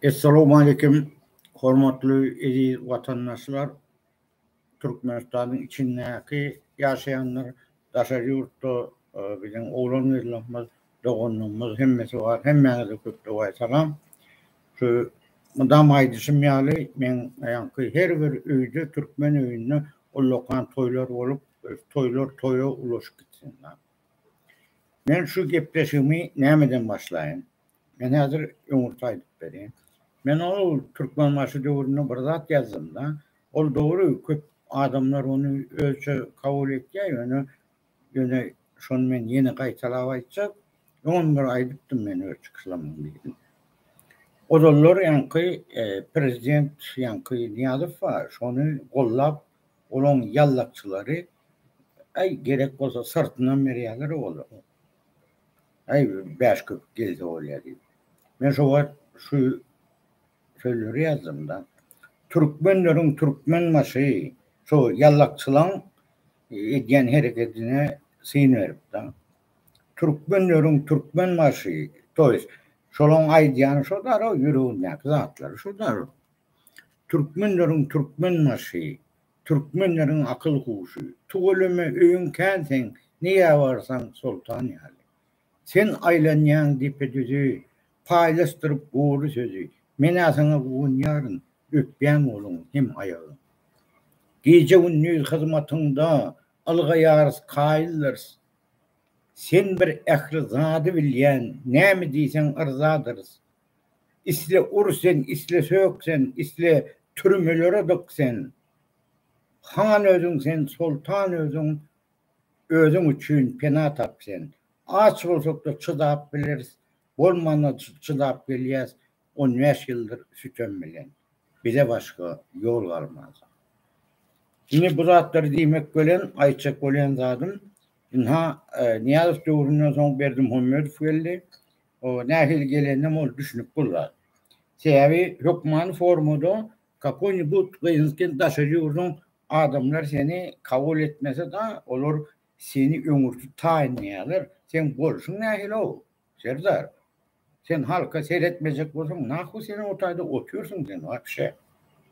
Essalowmalikim, hormatly eziz watandaşlar! Türkmenistanyň içindäki ýaşaýanlar, daşary ýurtda biziň oglan-gyzlarymyz, doganlarymyz hemmesi bar, hemmäňize köp-dogaýy salam! Şu mydama aýdyşym ýaly, men aýanky her bir öýde, türkmen öýünde ullakan toýlar bolup, toýlar toýa ulaşyp gitsin! Men şu gepleşigimi nämeden başlaýyn? Men häzir öňürti aýdyp berýän. Men ol Türkmenbaşy döwründe bir zat ýazdym-da. Ol dogry, köp adamlar ony özçe kabul etýär, ýöne, ýöne şony men ýene gaýtalap aýtjak. Öňem bir aýdypdym men öz çykyşlamyň birinde. Ozallar ýaňky prezident ýaňky Nyýazow bar, şony gollap Olaň ýallakçylary aý gerek bolsa syrtynam berýärler ola. Aý bäş köpük gelse bolýa diýip. Men şo wagt şu sözleri ýazdymda. Türkmenleriň türkmen başy şo ýallakçylaň edýän hereketine syn beripdir. Türkmenleriň türkmen başy, to ýest şolaň aýdýany şo darag ýüregindäki zatlary şo darag. Türkmenleriň türkmen başy, Türkmenleriň akyl huşy, Tuweleme öýüň kän seň, Nirä barsaň soltan ýaly. Sen aýlanýaň depe-düzi, Paýlaşdyryp gury sözi, Men-ä saňa guwanýaryn, Öpýän goluň hem aýagyň. Gije-gündiz hyzmatyňda, Ylgaýarys, kaýyldyrys, Sen bir ähli zady bilýän, Näme diýseň yrzadyrys, Isle ur sen, isle sök sen, isle türmelere dyk sen. Han özüň sen, soltan özüň, özüň üçin pena tap sen. Aç bolsak-da çydap bileris, bolmanda çydap gelýäs on bäş ýyldyr sütem bilen. Bize başga ýol galmaz. Indi bu zatlary diýmek bilen, aýtjak bolýan zadym, ynha, Nyýazow döwründen soň Berdimuhamedow geldi. o nähili geleninem ol düşünip bolmaz. Sebäbi hökmany formada kakoýnibut gyzylken daşary ýurduň adamlar seni kabul etmese-da, olar seni öňürti taýynlaýarlar. Seň bolşuň nähili-ow, Serdar? Sen halka seretmejek bolsaň, nahwa sen o taýda otyrsyň sen wapşe?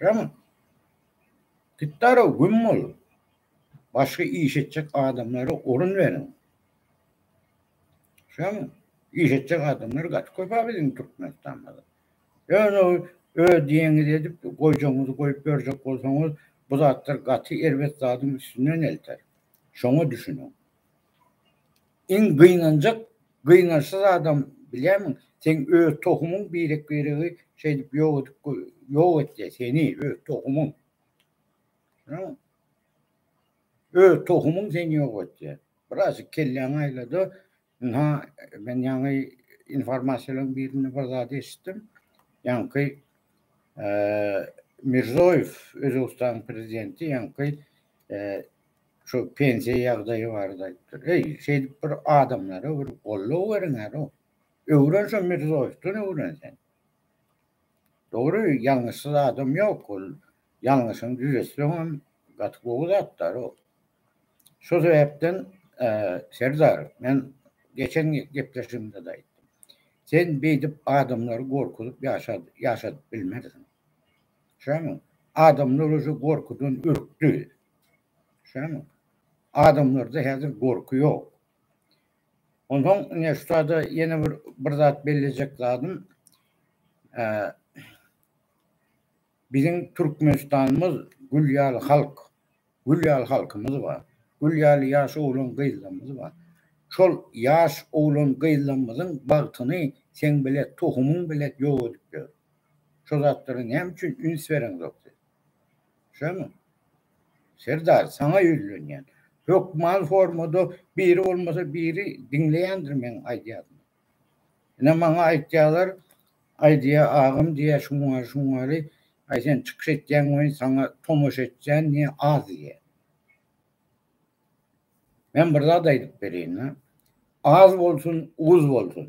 Şämi? Gitdar-ow, güm bol. Başga iş etjek adamlara orun beriň. Şoň iş etjek adamlar gaty köp-ä biziň Türkmenistanymyzda. Ýöne öz diýeniňizi edip, goýjagyňyzy goýup ýörjek bolsaňyz, bu zatlar gaty erbet zadyň üstünden elter. Şoňa düşüniň. Iň gynanjak, gynançsyz adam bilýärmiň? Seň öz tohumyň birek-biregi şeýdip ýok edip ýok etýär seni, öz tohumyň. Düşüniň. Öz tohumyň seni ýok etýär. Birazjyk kelläňi aýlada. Ynha, men ýaňy informasiýalaryň birinde bir zat eşitdim. Ýaňky Mirzoýew, Özbegistanyň prezidenti ýaňky şu pensiýa ýagdaýy barada aýtdy. Eý, şeýdip bir adamlara bir goldaw beriň alo. Öwren şu Mirzoýewden öwren sen. Dogry, ýalňyşsyz adam ýok ol. ýalňyşyny düzetseňem gaty gowy zatlar ol. Şo sebäpden Serdar men geçen gepleşigimde-de aýtdym. Sen beýdip adamlary gorkuzyp ýaşadyp bilmersiň. Düşýäňmi? Adamlar uje gorkudan ürkdi. Düşýäňmi? Adamlarda häzir gorky ýok. Onsoň ine şu sada ýene bir zat bellejek zadym Biziň Türkmenistanymyz gül ýaly halk, gül ýaly halkymyz bar. Gül ýaly ýaş oglan-gyzlarymyz bar. Şol ýaş oglan-gyzlarymyzyň bagtyny seň belet tohumyň belet ýok edip ýör. Şo zatlara näme üçin üns bereňzok siz? Şomy? Serdar, saňa ýüzlenýän. Hökman formada biri bolmasa biri diňleýändir meň aýdýadymy. Ine maňa aýtýarlar, Aýdýa agam diýýär şuňňary şuňňary, aý sen çykyş etýäň welin saňa tomaşa etýän diýýär az diýýär. Men bir zat aýdyp bereýin-le. Az bolsun, uz bolsun.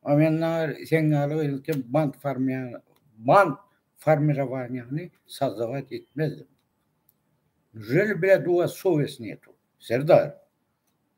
A men nagar seň ýaly gyzylkem band farmia band formirowaniýany sozdawat etmezdim. Neujeli blet u was sowes netu? Serdar.